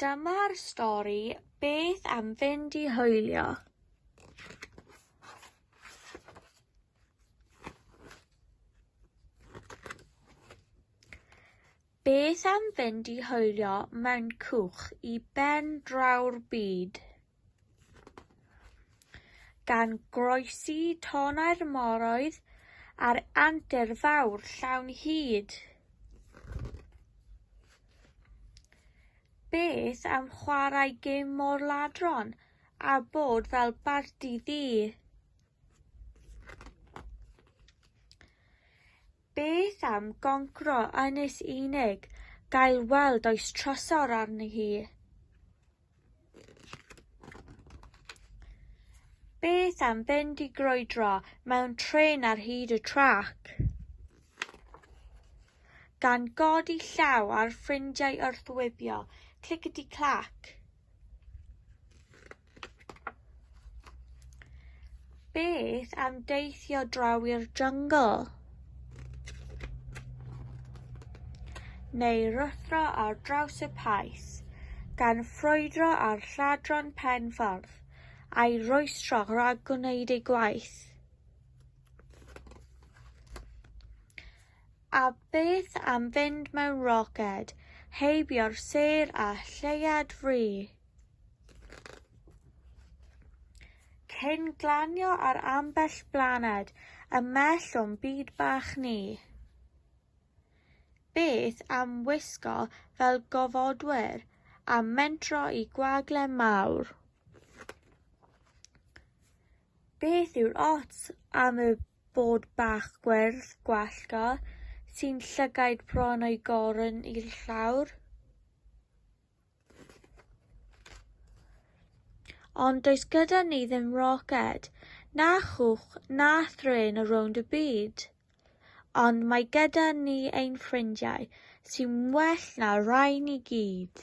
Dyma'r stori Beth am fynd i hwylio? Beth am fynd i hwylio mewn cwch i ben draw'r byd? gan groesi tonnau'r moroedd a'r antur fawr llawn hud. Beth am chwarae gêm mor ladron a bod fel bardi ddu? Beth am goncro ynys unig, gael weld oes trysor arni hi? Beth am fynd i grwydro mewn trên ar hyd y trac? Gan godi llaw ar ffrindiau wrth wibio, clickety-clack. Beth am deithio draw i'r jungle? Neu ruthro ar draws y paes, gan ffrwydro ar lladron pen ffordd, a'i roestro rhag gwneud ei gwaith. A beth am fynd mewn roced, heibio'r sêr a lleiad fri? Cyn glanio ar ambell blaned ymell o'n byd bach ni, beth am wisgo fel gofodwyr a mentro i gwagle mawr? Beth yw'r ots am y bod bach gwyrdd gwallgo sy'n llygaid bron o'i gorn i'r llawr? Ond does gyda ni ddim roced, na chwch, na thrên o rownd y byd. Ond mae gyda ni ein ffrindiau, sy'n well na rhain i gyd.